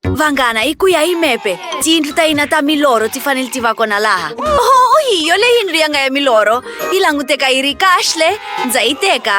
Vanghana hi ku ya hi mepe tiyindlu ta hina ta milorho ti fanele ti va kona laha oh hi yo leyi yindlu ya nga ya milorho yi languteka yi ri kahle ndza yi teka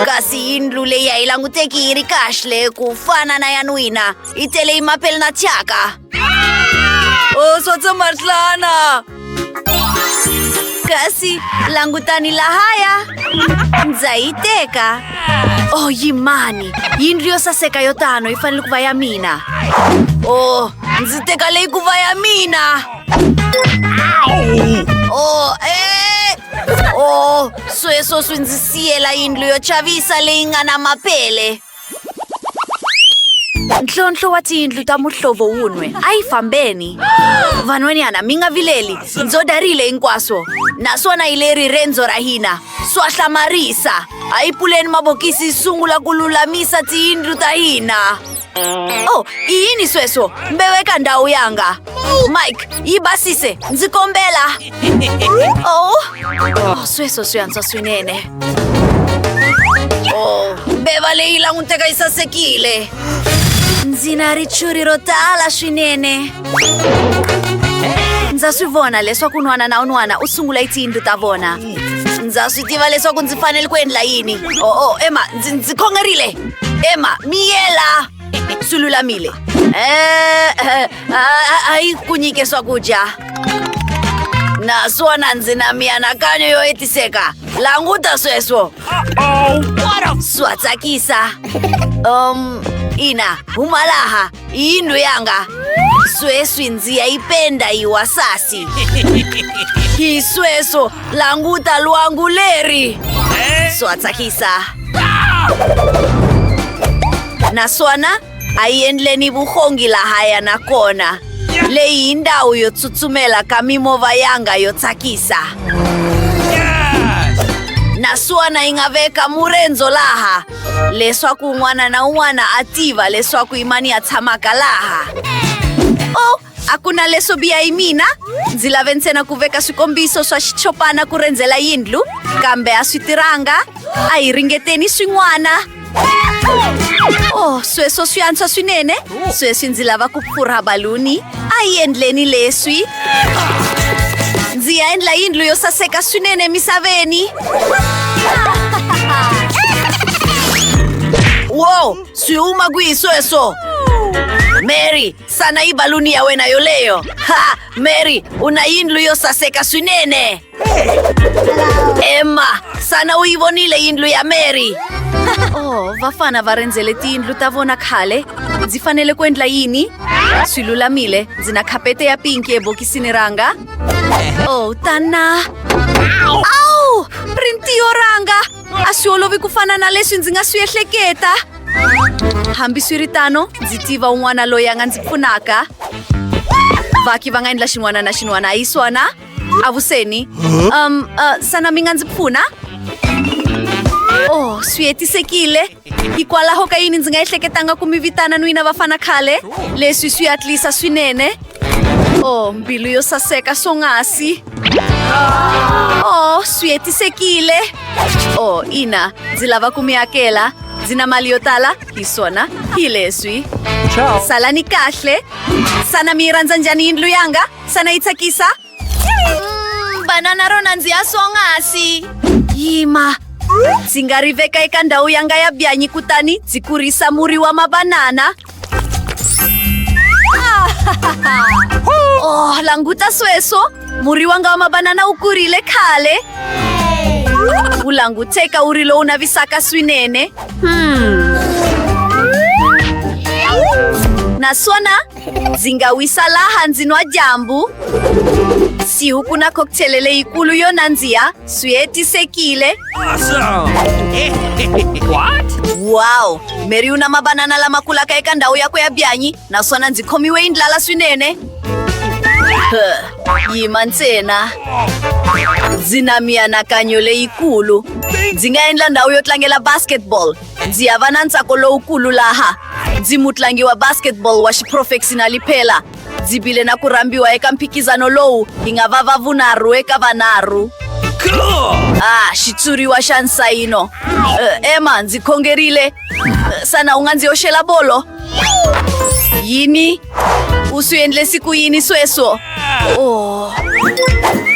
kasi yindlu leyi a yi languteki yi ri kahle ku fana na ya n'wina yi tele yi mapele na thyaka o swo tsomarhlana Kasi, langutan nila haya. Zaiteka. Oh, yimani. Yinrio sa sekayo tano ifanele kuvaya mina. Oh, ndzi teka leyi kuvaya mina. Oh, eh. Oh, sweswo swi ndzi siyela yindlu yo chavisa leyi nga na mapele. ntlhontlho wa tiyindlu ta muhlovo wun'we a yi fambeni van'wanyana mi nga vileli ndzo darile hinkwaswo naswona hi leri rendzo ra hina swa hlamarisa a yi puleni mabokisi yi sungula ku lulamisa tiyindlu ta hina o oh, i yini sweswo mbeweka ndhawu yanga mike yi basise ndzi kombela o oh, sweswo swi antswa swinene o oh, beva leyi languteka yi sasekile ndzi na richuri ro tala swinene ndza swi vona leswaku un'wana na un'wana u sungula yi tiyindlu ta vona ndza swi tiva leswaku ndzi fanele ku endla yini o oh, o emma ndzi khongerile emma miyela sululamile eh, eh, ah, ayi ku nyike swakudya naswona ndzi na mianakanyo yo hetiseka languta sweswo swa tsakisa um ina huma laha yindlu yanga sweswi ndzi ya yi penda yi wasasi hi sweswo Languta luangu leri! Swa tsakisa. Naswona a yi endleni vuhongi lahaya na kona. Leyi hi ndhawu yo tsutsumela ka mimova yanga yo tsakisa. Naswona yi nga veka murendzo laha leswaku un'wana na un'wana a tiva leswaku imani ya tshamaka laha. Oh, a ku na leswo biha hi mina ndzi lave ntsena ku veka swikombiso swa xichopana ku rendzela yindlu kambe a swi tirhanga a hi ringeteni swin'wana oh sweswo swi antswa swinene sweswi ndzi lava ku pfurha baluni a yi endleni leswi ndzi ya endla yindlu yo saseka swinene emisaveni wo swi huma kwihi sweswo mary Sana i baluni ya wena yoleyo. Ha, Mary, una yindlu yo saseka swinene. Emma, sana u yi vonile yindlu ya Mary. Oh, vafana va rendzele tiyindlu ta vona khale. Ndzi fanele ku endla yini? Swi lulamile, ndzi na khapete ya pinki ebokisini ranga. Oh, tana. Au! Rintiyo ranga! a swi olovi ku fana na leswi ndzi nga swi ehleketa hambiswiritano ndzi tiva un'wana loyi a nga ndzi pfunaka vaki va nga endla xin'wana na xin'wana a yi swona avuseni um uh, sana mi nga ndzi pfuna oh swi hetisekile hikwalaho ka yini ndzi nga ehleketanga ku mi vitana n'wina vafana khale leswi swi atlisa swinene o oh, mbilu yo saseka swonghasi o oh, swi hetisekile o oh, ina ndzi lava ku mi hakela ndzi na mali yo tala hi swona hi leswi salani kahle sana mi yi rhandza njhani yindlu yanga sana yi tsakisa Mm, banana ro nandziha swonghasi yima ndzi nga ri veka eka ndhawu ya nga ya byanyi kutani ndzi kurisa muri wa mabanana oh languta sweswo muri wanga wa mabanana wu kurile khale wu languteka wu ri lowu navisaka swinene hmm. naswona ndzi nga wisa laha ndzi nwa dyambu siwu ku na cocktail leyikulu yo nandziha swi hetisekile wow mary u na mabanana lama kulaka eka ndhawu yakwe ya byanyi naswona ndzi khomiwe yi ndlala swinene Huh, yima ntsena ndzi na mianakanyo leyikulu ndzi nga endla ndhawu yo tlangela basketball Ndzi ya va na ntsako lowukulu laha ndzi mutlangi wa basketball wa xiprofexinali phela ndzi bile na ku rhambiwa eka mphikizano lowu hi nga va va vunharhu eka vanharhu ah xitshuriwa xa nsayino uh, emma ndzi khongerile uh, sana u nga ndzi yoxela bolo yini U swi endlesi ku yini sweswo? Oh.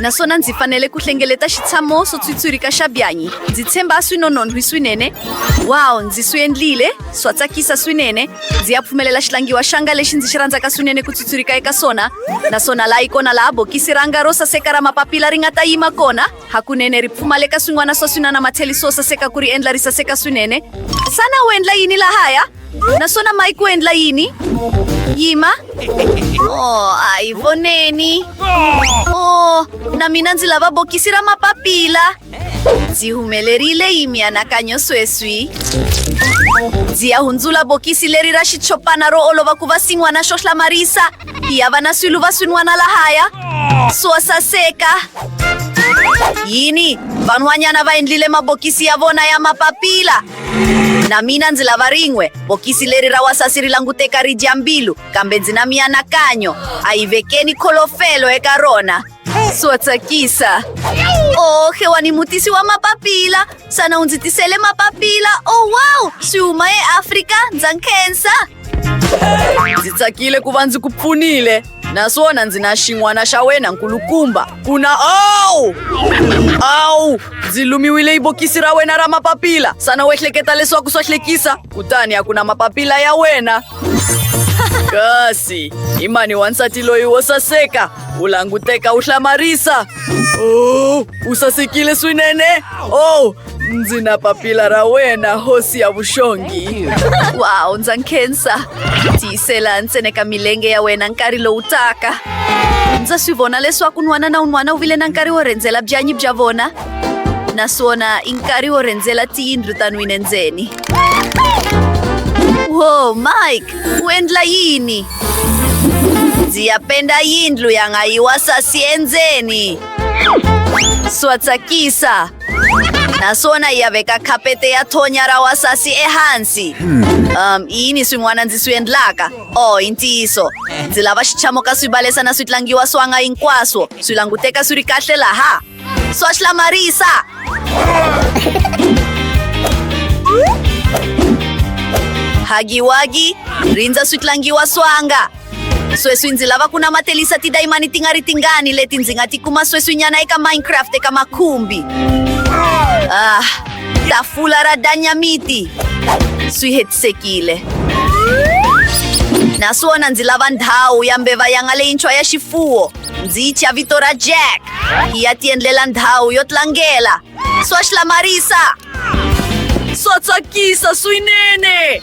Naswona ndzi fanele ku hlengeleta xitshamo swo tswitswirika xa byanyi. Ndzi tshemba swi nonon'hwi swinene. Wow, ndzi swi endlile. Swa tsakisa swinene. Ndzi ya pfumelela xitlangiwa xanga lexi ndzi xi rhandzaka swinene ku tswitswirika eka swona. Naswona laha yi kona laha bokisi ranga ro saseka ra mapapila ri nga ta yima kona. Hakunene ri pfumaleka swin'wana swa swinana matheli swo saseka ku ri endla ri saseka swinene. Xana u endla yini lahaya? Naswona Mike u endla yini? Yima. Oh, a hi voneni. Oh, na mina ndzi lava bokisi ra mapapila. Ndzi humelerile hi mianakanyo sweswi. Ndzi ya hundzula bokisi leri ra xichopana ro olova ku va sin'wana xo hlamarisa. Hi hava na swilo va swin'wana lahaya swo saseka. Yini? Van'wanyana va endlile mabokisi ya vona ya mapapila. Na mina ndzi lava rin'we. Bokisi leri ra wasasi ri languteka ri dya mbilu, kambe ndzi na mianakanyo. A yi vekeni kholofelo eka rona. Swo tsakisa. Oh, xewani mutisi wa mapapila. Xana u ndzi tisele mapapila? Oh, wow! Swi huma eAfrika, ndza nkhensa. ndzi tsakile ku va ndzi ku pfunile naswona ndzi na xin'wana xa wena nkulukumba ku na awu awu ndzi lumiwile yi bokisi ra wena ra mapapila sana wo ehleketa leswaku swa hlekisa kutani a ku na mapapila ya wena kasi i mani wansati loyi wo saseka u languteka u hlamarisa o oh, u sasekile swinene o oh, ndzi na papila ra wena hosi ya vuxongi wow ndza nkhensa tiyisela ntsene ka milenge ya wena nkarhi lowu taka ndza swi vona leswaku n'wana na un'wana u vile na nkarhi wo rhendzela byanyi bya vona naswona i nkarhi wo rhendzela tiyindlu ta nwine ndzeni wo mike u endla yini ndzi ya penda yindlu ya nga yiwa sasi endzeni swa tsakisa naswona ya veka khapete ya thonya ra wasasi ehansi um i yini swin'wana ndzi swi endlaka o oh, i ntiyiso ndzi lava xichamo ka swi balesa na swi tlangiwa swanga hinkwaswo swi languteka swi ri kahle laha swa hlamarisa hagiwagi rindza swi tlangiwa swanga sweswi ndzi lava ku namatelisa tidayimani ti nga ri tingani leti ndzi nga ti kuma sweswinyana eka minecraft eka makhumbi ah tafula ra danyamiti swi hetisekile naswona ndzi lava ndhawu ya mbeva yanga leyintshwa ya xifuwo ndzi yi thya vito ra jack yi ya tiendlela ndhawu yo tlangela Swatch la Marisa. Swa tsakisa swinene.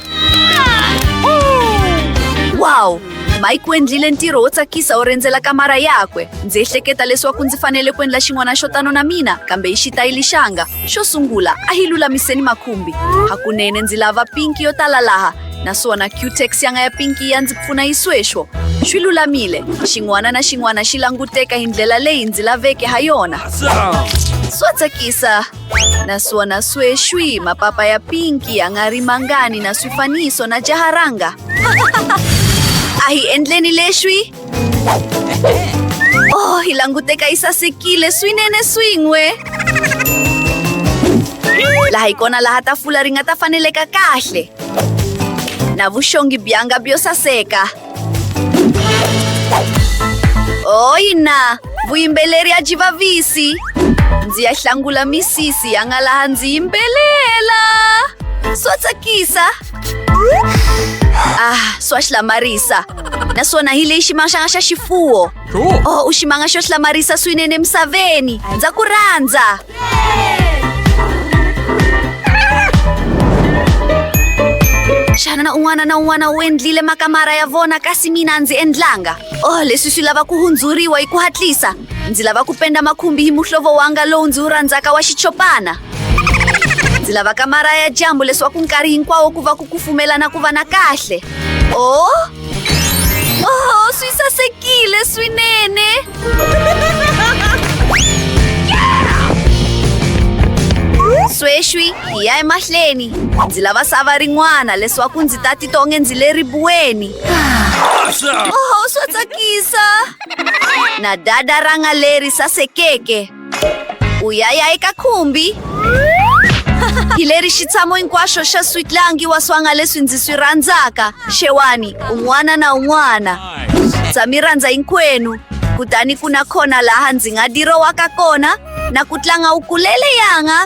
Wow! Mike u endlile ntirho wo tsakisa wo rendzela kamara yakwe. Ndzi ehleketa leswaku ndzi fanele ku endla xin'wana xo tano na mina, kambe hi xitayili xanga. Xo sungula, a hi lulamiseni makhumbi. Hakunene ndzi lava pinki yo tala laha, naswona cutex ya nga ya pinki ya ndzi pfuna yi sweswo swi lulamile xin'wana na xin'wana xi languteka hi ndlela leyi ndzi laveke ha yona swo tsakisa naswona sweswi mapapa ya pinki ya nga ri mangani na swifaniso na jaharanga a hi endleni leswi Oh, hilangute ka isa si Kile, swinene swingwe. Laha ikona laha tafula ri nga ta faneleka kahle. Na vuxongi byanga byo saseka. Oyina, vuyimbeleri ya byi vavisi. Ndzi ya hlangula misisi ya nga laha ndzi yimbelela. Swa tsakisa. Ah, swa hlamarisa. Naswona hi leyi ximangaxanga xa xifuwo. Cool. Oh, u ximanga xo hlamarisa swinene emisaveni. Ndza ku rhandza. Xana na un'wana na un'wana u endlile makamara ya vona kasi mina a ndzi endlanga. Oh, leswi swi lava ku hundzuriwa hi ku hatlisa. Ndzi lava ku penda makhumbi hi muhlovo wanga lowu ndzi wu rhandzaka wa xichopana. ndzi lava kamara ya dyambu leswaku nkarhi hinkwawo ku va ku kufumelana ku va na kahle o oho swi sasekile swinene sweswi hi ya emahleni ndzi lava sava rin'wana leswaku ndzi ta titwa onge ndzi le ribuweni oho swa tsakisa na dada ranga leri sasekeke Uyaya eka khumbi hi leri xitshamo hinkwaxo xa switlangi wa swanga leswi ndzi swi rhandzaka xewani un'wana na un'wana ndza mi rhandza hinkwenu kutani ku na khona laha ndzi nga dirowaka kona na ku tlanga u kulele yanga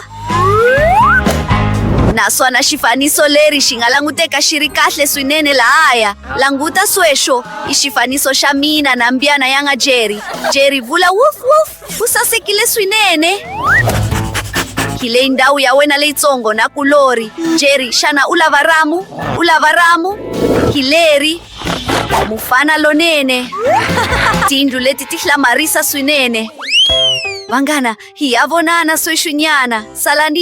naswona xifaniso leri xi nga languteka xi ri kahle swinene lahaya languta sweswo i xifaniso xa mina na mbyana ya nga jerry jerry vula wuf wuf Ku sasekile swinene. Hi leyi ndhawu ya wena leyitsongo na kulori. Jerry, xana u lava ramu? U lava ramu? Hileri, mufana lonene. Tindlu leti ti hlamarisa swinene. Vanghana, hi ya vonana sweswinyana. Salani.